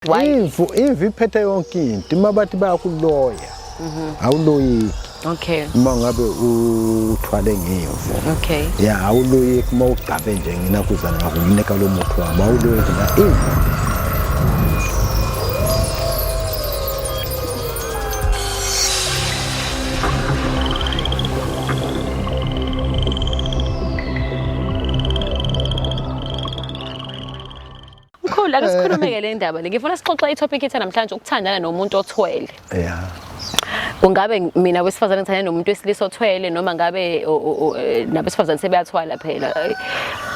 imvu imvu iphethe yonke into uma bathi bayakuloya mhm. awuloyiki okay uma ngabe uthwale ngemvu okay ya awuloyiki uma ugcabe nje ngina kuzana ngakunika lo muthi wami awuloyiki na imvu Mkhulu ake sikhulumeke le ndaba le. Ngifuna sixoxe i-topic ethe namhlanje ukuthandana nomuntu othwele. Yeah. Kungabe mina wesifazane ngithanda nomuntu wesilisa othwele noma ngabe o- o- o- eh, nabesifazane sebeyathwala phela. Eh,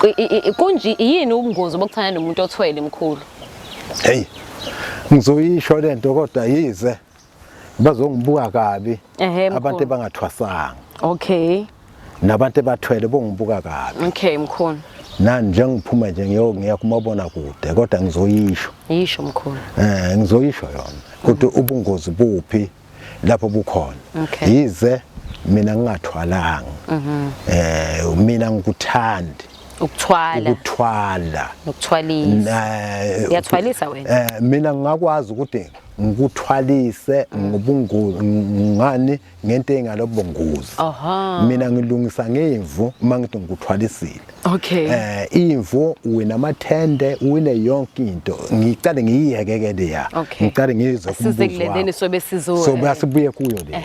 ku- i- i- Kunje yini ubungozi bokuthandana nomuntu othwele mkhulu? Hey. Ngizoyisho lento kodwa yize bazongibuka kabi abantu abangathwasanga okay nabantu ebathwele bongibuka kabi okay mkhulu nani njengiphuma nje ngiyo ngiya kumabona kude kodwa ngizoyisho yisho mkhulu eh ngizoyisho yona ukuthi mm. ubungozi buphi lapho bukhona okay. yize mina ngingathwalanga mm -hmm. eh mina ngikuthandi ukuthwala ukuthwala nokuthwalisa eh, uyathwalisa wena eh mina ngingakwazi ukuthi ngikuthwalise ngobungozi ngani ngento engalobungozi mina ngilungisa ngemvu uma ngithi ngikuthwalisile okay eh imvu wena amathende wine yonke into ngicale ngiyihekekele ya ngicale ngizwe kubuzo sizobe sizobe sibuye kuyo le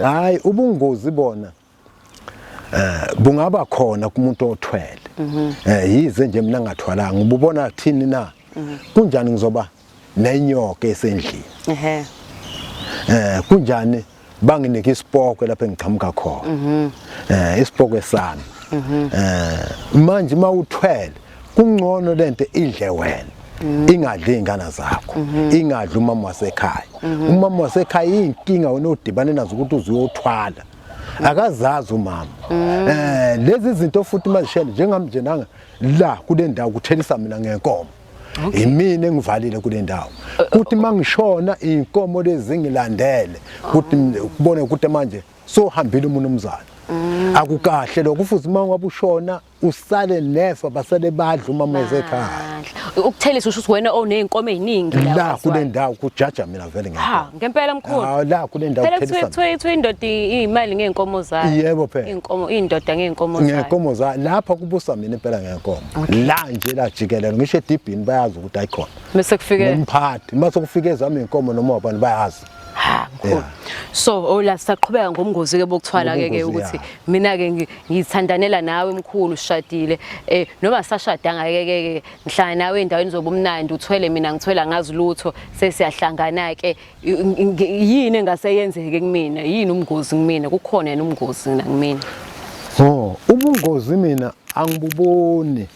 hayi ubungozi bona eh kungaba khona kumuntu othwele mhm. eh yize nje mina ngathwalanga ububona thini na mhm. kunjani ngizoba nenyoka esendlini ehe eh kunjani banginike isipoko lapho engiqhamuka khona mhm. eh isipoko sami eh manje mawuthwele kungcono lento idle wena ingadli izingane zakho ingadli umama wasekhaya umama wasekhaya inkinga wena odibane nazo ukuthi uzoyothwala akazazi umama mm. eh lezi zinto futhi mazishele njengami nje nanga la kule ndawo kuthelisa mina ngenkomo yimina engivalile kule ndawo eh, kuthi eh, mangishona inkomo lezi ngilandele kuthi kubone ukuthi manje sohambile umuntu omzali mm. akukahle lokho futhi uma wabushona usale nefa basale badla uma mweze ekhaya ukuthelisa usho ukuthi wena oneyinkomo eziningi la kule ndawo kujaja mina vele ngeke ha ngempela mkhulu ha la kule ndawo kuthelisa phela kuthiwa kuthiwa indoda imali ngeenkomo zayo yebo phela inkomo indoda ngeenkomo zayo ngeenkomo zayo lapha kubusa mina impela ngeenkomo la nje la jikelelo ngisho edibhini bayazi ukuthi ayikhona bese kufike umphathi mase kufike ezami inkomo noma wabani bayazi ha mkhulu Yeah. so oh la saqhubeka ngomngozi ke bokuthwala ke ke Ngobungozi, ukuthi yeah. mina ke ngi- ngithandanela nawe mkhulu sishadile eh noma sashadanga ke ke ke ngihlala nawe endaweni zobumnandi uthwele mina ngithwela ngazi lutho sesiyahlangana ke I- ngi- ngi- yini engase yenzeke kumina yini umngozi kumina kukhona yena umngozi na kumina Oh, ubungozi mina angibuboni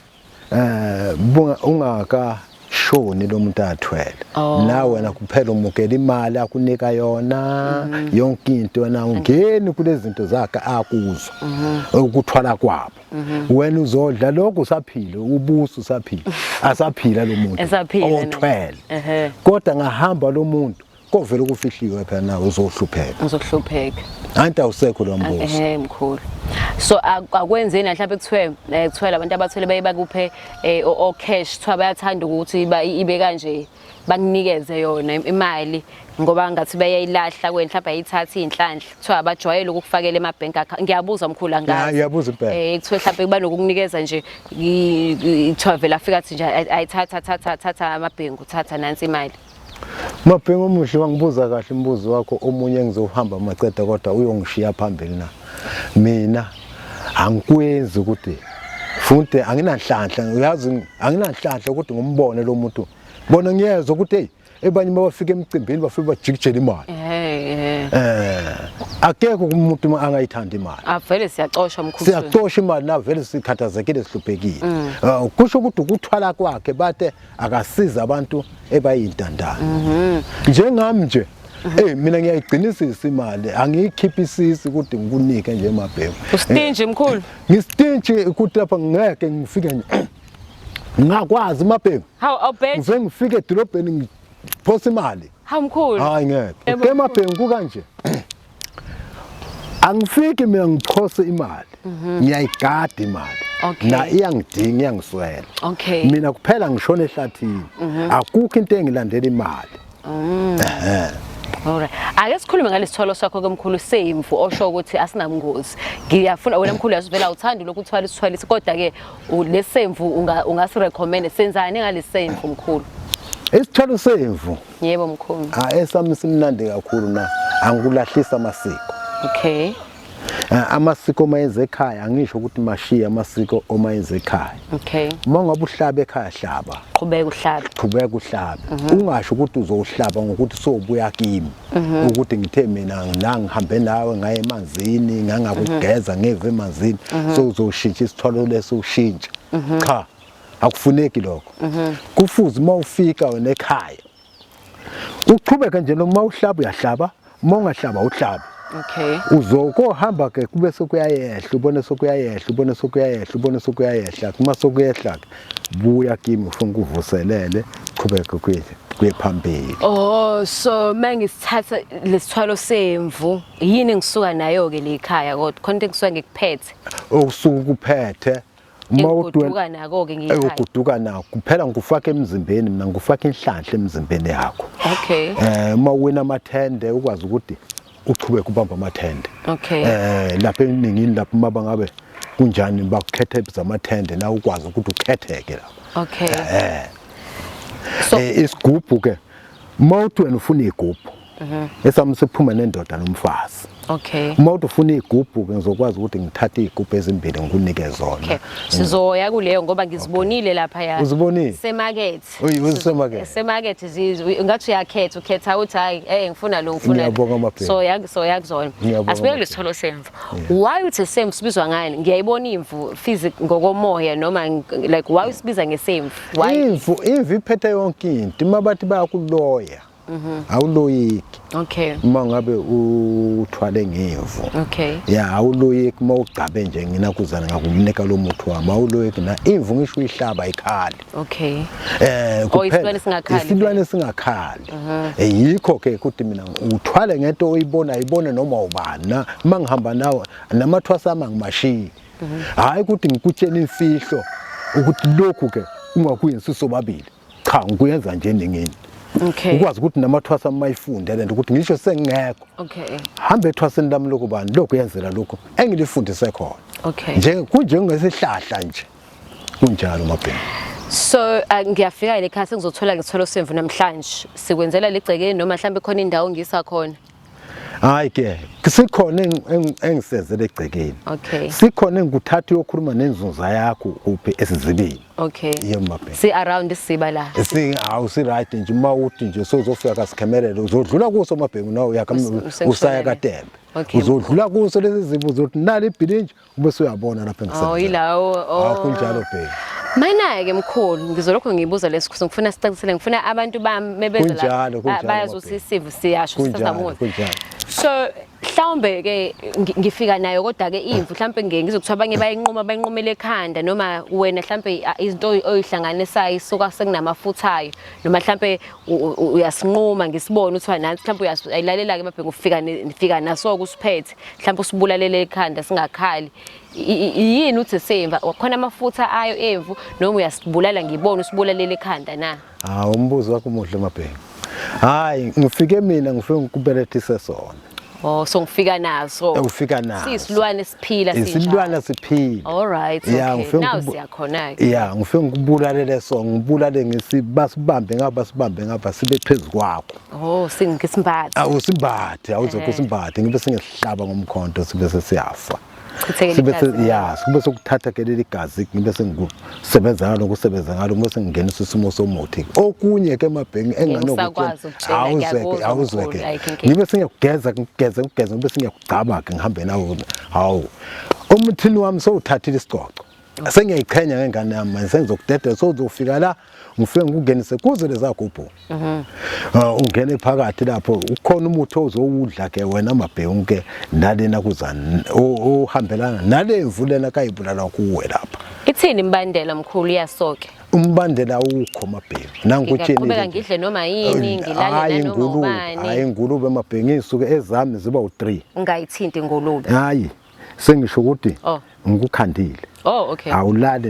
eh bunga ungaka shoni lo muntu athwele oh. nawe wena kuphela umukela imali akunika yona mm. yonke into wena ungeni kulezi zinto zakhe akuzwa mm -hmm. ukuthwala kwabo mm -hmm. wena uzodla lokho usaphile ubuso usaphile asaphila lo muntu othwele uh -huh. kodwa ngahamba lo muntu kovela ukufihliwe phela nawe uzohlupheka uzohlupheka anti awusekho lo mbuzo ehe mkhulu so akwenzeni la mhlawumbe kuthiwe eh, kuthiwa labantu abathwele baye bakuphe eh, o cash kuthiwa bayathanda ukuthi ibe kanje bakunikeze yona imali ngoba ngathi bayayilahla kweni mhlawumbe ayithatha iy'nhlanhla kuthiwa abajwayele ukukufakela ema-bank account ngiyabuza mkhulu angaziyabuza impela um eh, kuthiwe mhlawumbe kuba nokukunikeza nje kuthiwa vele afika athi nje ayithatha thatha thatha amabhengu thatha nansi imali Mabhengu omuhle wangibuza kahle umbuzo wakho omunye engizohamba macede kodwa uyongishiya phambili na. Mina angikwenzi ukuthi funde anginanhlanhla uyazi anginanhlanhla ukuthi ngombone lo muntu. Bona ngiyezwe ukuthi hey ebanye mabafika emcimbini bafike bajikijela imali. Eh. Eh. Akekho umuntu angayithanda imali. Avele ah, siyacosha mkhulu. Siyacosha imali na vele sikhathazekile sihluphekile. Mm. Ah, kusho ukuthi ukuthwala kwakhe bathe akasiza abantu ebayintandane mhm. njengami nje Eh mina ngiyayigcinisisa imali angiyikhiphi isisi kude ngikunike nje emabhemu. Ustinji mkhulu. Eh, Ngistinji ukuthi lapha ngeke ngifike nje. Ngakwazi emabhemu. Hawu awubhethi. Ngize ngifike edolobheni ngiphosa imali. Hawu mkhulu. Hayi ngeke. Emabhemu kukanje. angifiki mina ngichose imali mhm. ngiyayigada imali na iyangidinga iyangiswela mina kuphela ngishona ehlathini mhm. akukho into engilandela imali mm. Alright. Ake sikhulume ngalesithwalo sakho kemkhulu semvu osho ukuthi asinabungozi. Ngiyafuna wena mkhulu yasivela uthanda lokhu uthwala isithwalisi kodwa ke lesemvu ungasi recommend senzani ngalesemvu mkhulu? Isithwalo semvu. Yebo mkhulu. Ah esami simnandi kakhulu na angikulahlisa amasiko. Okay. Ah, amasiko uma yenza ekhaya angisho ukuthi mashiye amasiko uma yenza ekhaya okay uma ngabe uhlaba ekhaya hlaba qhubeka uhlabe qhubeka uhlabe mhm. ungasho ukuthi uzowuhlaba ngokuthi sobuya kimi mhm. ukuthi ngithe mina la ngihambe nawe ngaye emanzini ngangakugeza mhm. ngeve emanzini so uzoshintsha isithwalo leso ushintsha cha akufuneki lokho mhm. kufuze uma ufika wena ekhaya uqhubeke nje noma uhlaba uyahlaba uma ungahlaba uhlaba okay uzokohamba ke kube sokuyayehla ubone sokuyayehla ubone sokuyayehla ubone sokuyayehla kuma sokuyehla buya kimi ufuna kuvuselele qhubeke kwethu kuye phambili oh so mangisithatha lesithwalo semvu yini ngisuka nayo ke lekhaya kodwa khona into engisuka ngikuphethe okusuka ukuphethe Ngikuduka nako ke ngiyithanda. Ngikuduka nako. Kuphela ngikufaka emzimbeni mina ngikufaka inhlanhla emzimbeni yakho. Okay. Eh uma wena amathende ukwazi ukuthi uchubeke ubamba amathende. Okay. Eh lapha eningini lapha uma bangabe kunjani bakukhethe zamathende na ukwazi ukuthi ukhetheke lapha. Okay. Eh. So eh, isigubhu ke uma uthi wena ufuna igubhu Mhm. esami siphuma nendoda nomfazi Okay. uma uthi ufuna iy'gubhu ke ngizokwazi ukuthi ngithathe iy'gubhu ezimbili ngikunike Okay. zona Sizoya kuleyo ngoba ngizibonile lapha ya. Uzibonile? Semakethe. Uyi- uzisemakethe? Semakethe zizwe ngathi uyakhetha ukhetha uthi hayi eh ngifuna lo ngifuna. Ngiyabonga le. amabheka. So yak so yak zona. Ngiyabonga Asibeke amabheka. lesitholo semvu. Why uthi semvu sibizwa ngani? Ngiyayibona imvu physic ngokomoya noma ng- like why usibiza ngesemvu? Why? imvu imvu iphethe yonke into uma bathi bayakuloya Mhm. awuloyiki okay uma ngabe uthwale ngevu okay ya awuloyeki uma ugcabe nje nginakuzana ngakumnika lo muthi wami awuloyeki na imvu ngisho uyihlaba ikhali okay eh Oh, kuphela isilwane singakhali. isilwane singakhali Eh, yikho ke ukuthi mina uthwale ngento oyibona ibone noma ubani na uma ngihamba nawe namathwasa ama ngimashiyi hayi ukuthi ngikutshela imfihlo ukuthi lokhu ke ungakuyenzisa sobabili cha ngikuyenza nje ningini okay ukwazi ukuthi namathwasa amayifunde lento ukuthi ngisho sengekho okay hambe ethwaseni lami lokubani lokhu yenzela lokho engilifundise khona okay nje kunjengesihlahla nje kunjalo mabheni So uh, ngiyafika le khasi ngizothola ngitholo semvu namhlanje sikwenzela legcekeni noma mhlawumbe khona indawo ngisa khona hayi ke sikhona engisenzele egcekeni okay sikhona engikuthatha uyokhuluma nenzunza yakho kuphi esizibini okay yemabhe si around isiba la si awu si right nje uma uthi nje sozofika kasikhemelele uzodlula kuso mabhengu nawe uyakamnike usaya katembe uzodlula kuso lezi zibu uzothi nali ibhilinje Ube suyabona lapha engisebenza. Oh yilawo. Oh. Akho njalo bheki. Mayina-ke mkhulu ngizolokhu ngibuza lesi khuzo ngifuna sicacisele ngifuna abantu bami mebeza bayazi ukuthi isimo siyasho sisazabona so mhlawumbe ke ngifika nayo kodwa ke imvu mhlawumbe ngeke ngizokuthiwa abanye bayinquma bayinqumele ekhanda noma wena mhlawumbe izinto oyihlanganisayo isuka sekunamafuthayo noma mhlawumbe uyasinquma ngisibone uthiwa nansi mhlawumbe uyayilalela ke mabhengu ufika nifika naso kusiphethe mhlawumbe usibulalele ekhanda singakhali yini uthi semva khona amafutha ayo emvu noma uyasibulala ngibona usibulalele ekhanda na hawu umbuzo wakho umuhle mabhengu hayi ngifike mina ngifike ngikubelethise sona Oh so ngifika naso. Ufika naso. Sisilwane siphila sinjalo. Isilwane siphila. All right. Okay. Yeah, ngifike now siyakhona ke. Yeah, ngifike ngikubulalele so ngibulale ngisibasibambe ngaba sibambe ngaba sibe phezulu kwakho. Oh singike simbathe. Awu simbathe, awuzokho Eh. simbathe ngibe singesihlaba ngomkhonto sibe sesiyafa. Chithekele Sibe igazi. se- ya, sibe sokuthatha ke leli gazi ngibe sengisebenza ngalo kusebenza ngalo uma sengingenisa isimo somuthi. Okunye ke mabhengi Ngisakwazi ukutshela, awuzeke ngiyakuzwa awuzeke. mkhulu, ayikho inkinga. Ngibe singiyakugeza ngigeze ngigeze ngibe singiyakugcama ke ngihambe nawo. Hawu. Umthini wami sowuthathile isicoco. sengiyayiqhenya ngengane yami manje sengizokudedela sozofika la ngifike ngikungenise kuze lezagubhu mhm. ah, ungene phakathi lapho ukhona umuthi ozowudla ke wena mabhewu ke nalena kuzani ohambelana nalemvu lena kayibulala kuwe lapha ithini imbandela mkhulu iyasoke umbandela ukho mabhewu nangukuthini ngiyaqhubeka ngidle noma yini ngilale noma ubani hayi ingulube mabhewu ngisuke ezami ziba u3 ngayithinti ingulube hayi sengisho ukuthi oh. ngikukhandile Oh okay. Awulali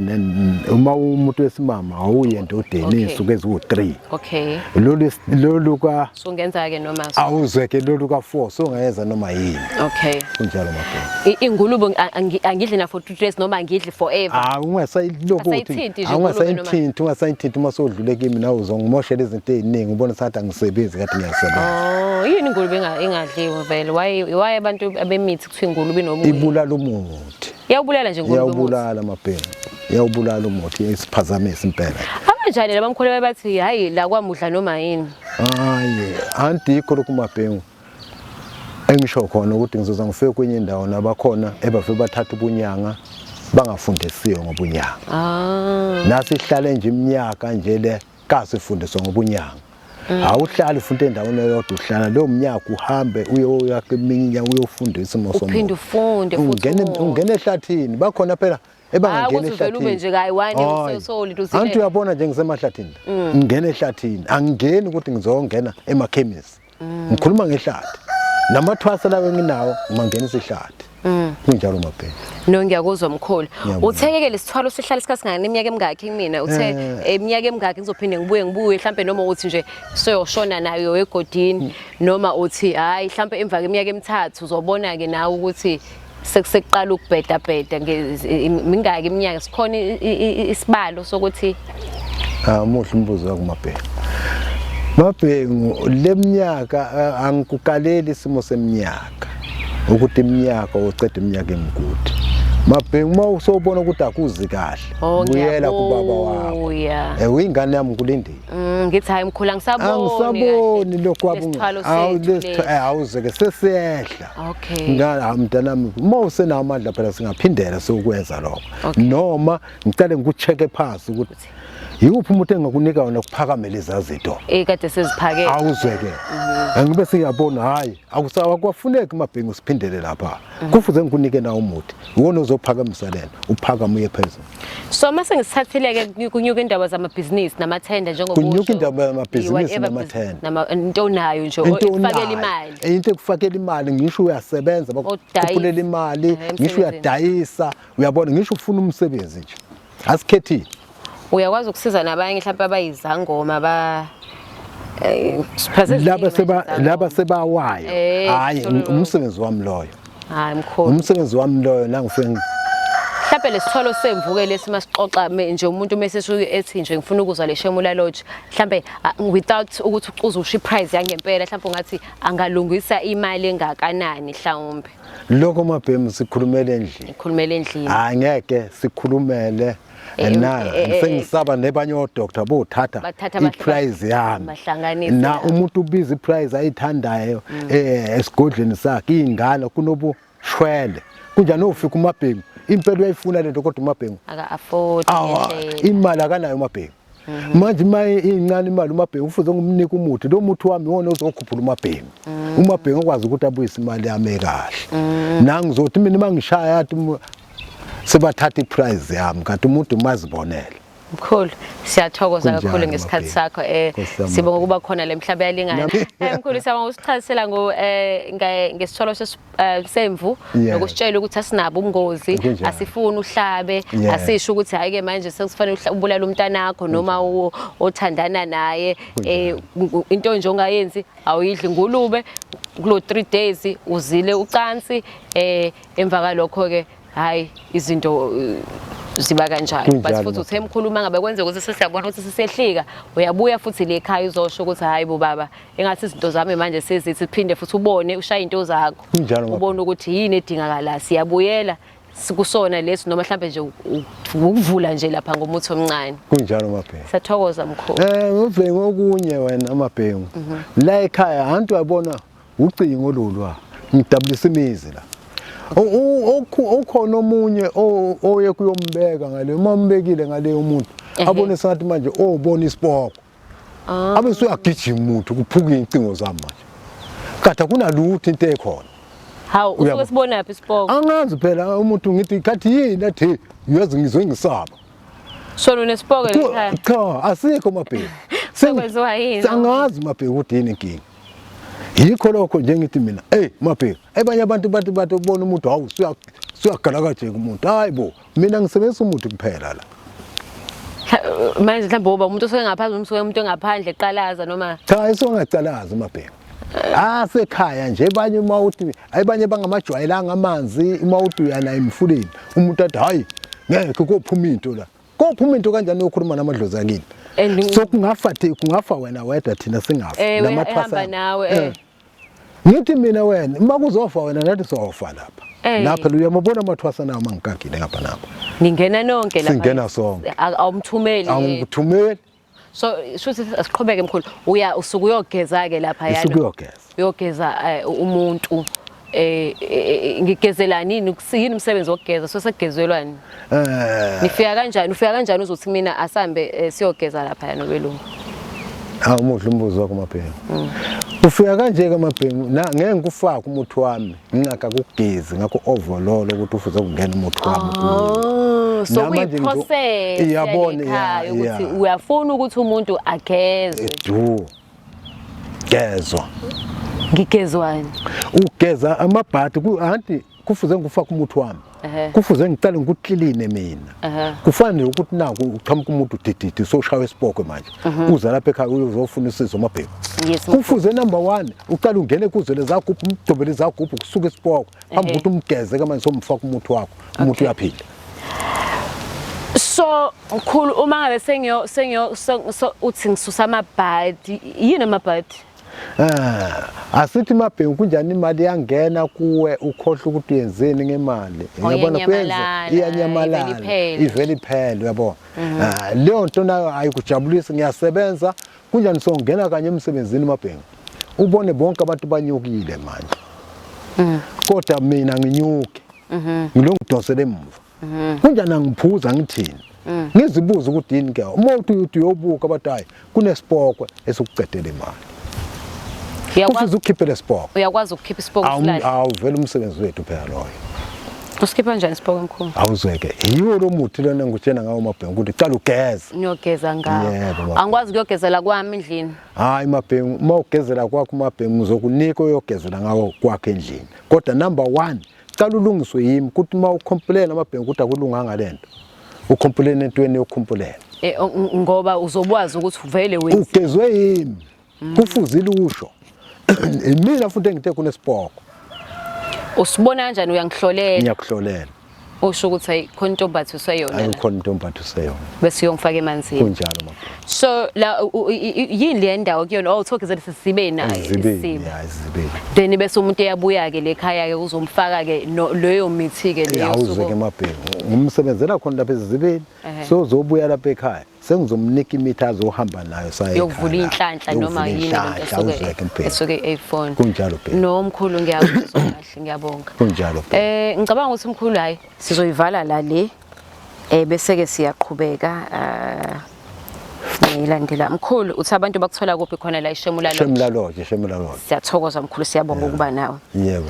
uma umuntu wesimama awuye endodeni insuku eziwu3. Okay. Lolu lolu ka Sungenza ke noma so. Awuzwe ke lolu ka 4 songeza noma yini. Okay. Kunjalo mabheka. Ingulube angidli na for 2 days noma angidli forever Ah, ungasayilokhu Asayithinti nje ungasayithinti ungasayithinti uma sodlule kimi nawe uzongimoshela izinto eziningi ubona sathi angisebenzi kade ngiyasebenza oh yini ingulube enga- engadliwe vele why why abantu abemithi kuthiwa ingulube inobuye ibulala umuthi yawubulala nje ingulube umuthi. iyawubulala amabheni iyawubulala umuthi isiphazamisa impela abanjani labamkhuleka bathi hayi la kwamudla noma yini hayi andikho lokhu mabhengu engisho khona ukuthi ngizoza ngifike kwenye indawo nabakhona ebave bathatha ubunyanga bangafundisiwe ngobunyanga ah. nasihlale nje iminyaka nje le kasifundiswa ngobunyanga mm. awuhlali futhi endaweni eyodwa uhlala leyo mnyaka uhambe uyoyakha iminya uyofundisa umosophinde ufunde futhi ungena ehlathini bakhona phela ebangangena ehlathinianti uyabona nje ngisemahlathini mm. ngingena ehlathini angingeni ukuthi ngizongena emakhemisi mm. ngikhuluma ngehlathi namathwasa lawo enginawo mangenisa ihlathi mm. kunjalo mabheka no ngiyakuzwa mkhulu uthekeke lesithwalo sihlala isikhathi singani iminyaka emingaki kumina uthe eh. iminyaka emingaki ngizophinde ngibuye ngibuye mhlambe noma uthi nje soyoshona nayo egodini mm. noma uthi hayi mhlambe emva kweminyaka emithathu uzobona ke nawe ukuthi sekuseqala ukubheda bheda mingaki iminyaka sikhona isibalo sokuthi ah muhle umbuzo wakumabheka mabhengu leminyaka angikukaleli isimo seminyaka ukuthi iminyaka uceda iminyaka emikude mabhengu uma usobona ukuthi akuzi kahle oh, buyela kubaba wakho eh uyingane yami kulindile mm, ngithi hayi mkhulu angisaboni angisaboni lokho abungawu lesithwalo eh, awuzeke sesiyehla Okay. Ngala mntanami uma usenawo amandla phela singaphindela sokwenza lokho. Okay. Noma ngicela ngikucheke phansi ukuthi yikuphi umuntu engakunika wona kuphakamela izazito. Eh kade seziphakele. Awuzweke. Mhm. Angibe siyabona hayi akusawa kwafuneki mabhengu siphindele lapha. Mhm. Kufuze ngikunike na umuthi. Uwona ozophakamisa lena. Uphakama uye phezulu. So uma sengisithathile-ke kunyuka indaba zamabhizinisi namathenda njengoba kunyuka indaba yamabhizinisi namathenda into onayo nje ikufakela imali eh, into ekufakela imali ngisho uyasebenza bakukhulela imali eh, ngisho uyadayisa uyabona ngisho ufuna umsebenzi nje asikhethile uyakwazi ukusiza nabanye mhlawumbe abayizangoma ba eh, laba seba laba sebawayo hayi umsebenzi wami loyo Hayi mkhulu. Umsebenzi wami loyo la ngifike mhlampe lesithwalo semvuke lesi masixoxa nje umuntu meseshuke ethi nje ngifuna ukuzwa le Shemula Lodge mhlampe without ukuthi ucuze usho iprice yangempela mhlampe ungathi angalungisa imali engakanani mhlawumbe lokho mabhemu sikhulumele endlini sikhulumele endlini hayi ngeke sikhulumele Eh, na eh, eh, sengisaba nebanye odoctor bothatha iprize yami na umuntu ubiza iprize ayithandayo mm. eh esigodleni sakhe ingane kunobu shwele kunjani ufika umabhengu impela uyayifuna lento kodwa umabhengu aka afford imali akanayo umabhengu Mhm. manje uma incane imali umabhengu kufuze ngimnike umuthi lo muthi wami iwona ozokhuphula umabhengu mhm. umabhengu akwazi ukuthi abuyise imali yami ekahle mhm. nangizothi mina uma ngishaya athi sebathatha iprize yami kanti umuntu umazibonele mkhulu siyathokoza kakhulu ngesikhathi sakho eh sibonga ukuba khona lemhlaba yalingana eh, mkhulu siyabonga usichazisela ngo eh ngesitholo eh, semvu Yeah. nokusitshela ukuthi asinabo ubungozi Kunjalo. asifuni uhlabe Yeah. asisho ukuthi hayi ke manje sekufanele uhla- ubulale umntanakho noma uwo othandana naye eh ngu- into nje ongayenzi awuyidli ngulube kulo 3 days uzile ucansi eh emva kalokho ke hayi izinto eh, ziba kanjalo Kunjalo, base futhi ma. uthe mkhuluma ngabe kwenzeka ukuthi sesiyabona ukuthi sisehlika uyabuya futhi le ekhaya uzosho ukuthi hayi bo baba engathi izinto zami manje sezithi phinde futhi ubone ushaya into zakho ubone ukuthi yini edingakala siyabuyela sikusona lesi noma mhlambe nje ukuvula nje lapha ngomuthi omncane kunjalo mabhengu sathokoza mkhulu eh ngobhengu okunye wena mabhengu mhm. la ekhaya hantu yabona ucingo lolwa ngidabulisa imizi la ukhona omunye oye kuyombeka ngale uma umbekile ngale umuntu eh, eh. abone sathi manje obona isiboko Ah. Abe usuyagijima umuntu kuphuka incingo zami manje. Kade kunalutho into ekhona. Hawu usuke sibonaphi isipoko? Angazi phela umuntu ngithi kathi yini athi uyazi ngizwe ngisaba. Shona unesipoko ekhaya. Cha asikho mabheki. Sekwenziwa yini? Angazi mabheki ukuthi yini inkinga. Yikho lokho nje ngithi mina hey mabheki abanye abantu bathi bathi ubona umuntu hawu suya suyagalakajeka umuntu hayibo mina ngisebenzisa umuthi kuphela la Mhla- manje mhlawumbe uba umuntu osuke ngaphandle noma usuke umuntu engaphandle eqalaza noma cha isongacalazi mabheka asekhaya nje abanye uma uthi ayibanye bangamajwayelanga amanzi uma uthi uyana emfuleni umuntu athi hayi ngeke kophuma into la kophuma into kanjani yokhuluma namadlozi akini And- so kungafa thi kungafa wena wedwa thina singafa ewe ehamba nawe eh. Ngithi mina wena uma kuzofa wena nathi sofa lapha. Ey. Lapha phela uyamabona amathwasa nawo mangigagile ngapha napha. Ningena nonke lapha. Singena sonke. A- Awumthumeli. Angikuthumeli So shuthi asiqhubeke mkhulu. Uya usuku uyogeza ke lapha yana. isuke uyogeza. Uyogeza eh, umuntu eh eh, eh, ngigezelani yini Ukus- yini umsebenzi wokugeza so sekugezelwani. Eh. Nifika kanjani? Ufika kanjani uzothi mina asambe eh, siyogeza lapha yana belungu. Hawu muhle umbuzo wakho mabhengu. Mm. Ufika kanje ke mabhengu na ngeke ngikufaka umuthi wami ngingaka kugezi ngakho overload ukuthi ufuze kungena umuthi wami. Oh, so we process. Iyabona ya ukuthi uyafuna ukuthi umuntu ageze. Edu. Gezwa. Ngigezwani? Ugeza amabhadi ku anti kufuze ngifake umuthi wami kufuze ngiqale ngikukliline mina kufanele ukuthi naku uqhamuka umuntu udididi usoshawa esibokwe manje mhm. uza lapha ekhaya uyozofuna usizo amabhemu kufuze number one uqale ungene ekuzwele zagubhu umdobele izagubhu kusuke esibokwe phambi ukuthi umgeze kamanje somfaka umuthi wakho umuntu uyaphila so mkhulu uma ngabe sengiyo sengiyo uthi ngisusa amabhadi yini amabhadi Ah, asithi mabhengu kunjani imali yangena kuwe ukhohle ukuthi uyenzeni ngemali Oh, uyabona kuyenza iyanyamalala, iyanyamalala ivele iphele. ivele iphele uyabo Mhm. Ah, leyo nto nayo ayikujabulisi ngiyasebenza kunjani songena kanye emsebenzini mabhengu ubone bonke abantu banyukile manje Mm. kodwa mina nginyuke Mhm. ngilongidonsele emuva mhm. kunjani angiphuza ngithini mm. ngizibuza ukuthi yini ke uma uthi uthi uyobuka abantu hayi kunesipokwe esikucedele imali kufuze ukhiphe lesipoko uyakwazi ukukhipha isipoko silahle awuvela umsebenzi wethu phela loyo usikhipha njani isipoko mkhulu awuzweke yiwo lo muthi lona ngikutshena ngawo mabhengu ukuthi cala ugeze ngiyogeza ngawo yebo angikwazi ukuyogezela kwami endlini hayi mabhengu uma ugezela kwakho mabhengu uzokunika uyogezela ngawo kwakhe endlini kodwa number 1 cala ulungiswe yimi ukuthi uma ukhompulena amabhengu ukuthi akulunganga lento ukhompulena entweni yokhumpulena eh, ngoba uzobwazi ukuthi vele wena ugezwe yimi mm. kufuzile usho imina futhi engithe kunesibhoko usibona kanjani uyangihlolela ngiyakuhlolela usho ukuthi ayi khona intombatho useyona ayi khona intombatho useyona bese uyongifaka emanzini kunjalo mabhengu so la yini le ndawo kuyona oh talk is at sisibeni isibeni then bese umuntu eyabuya ke lekhaya ke uzomfaka ke leyo mithi ke leyo awuze ke mabheki ngimsebenzela khona lapha ezibeni so uzobuya lapha ekhaya sengizomnika imithi azohamba nayo saye yokuvula inhlanhla noma yini esuke esuke iPhone kunjalo bheki no mkhulu ngiyakuzwa kahle ngiyabonga kunjalo bheki eh ngicabanga ukuthi mkhulu hayi sizoyivala la le Eh bese ke siyaqhubeka eh ngilandela mkhulu uthi abantu bakuthola kuphi khona la ishemula lodge shemula lodge shemula lodge siyathokoza mkhulu siyabonga ukuba nawe yebo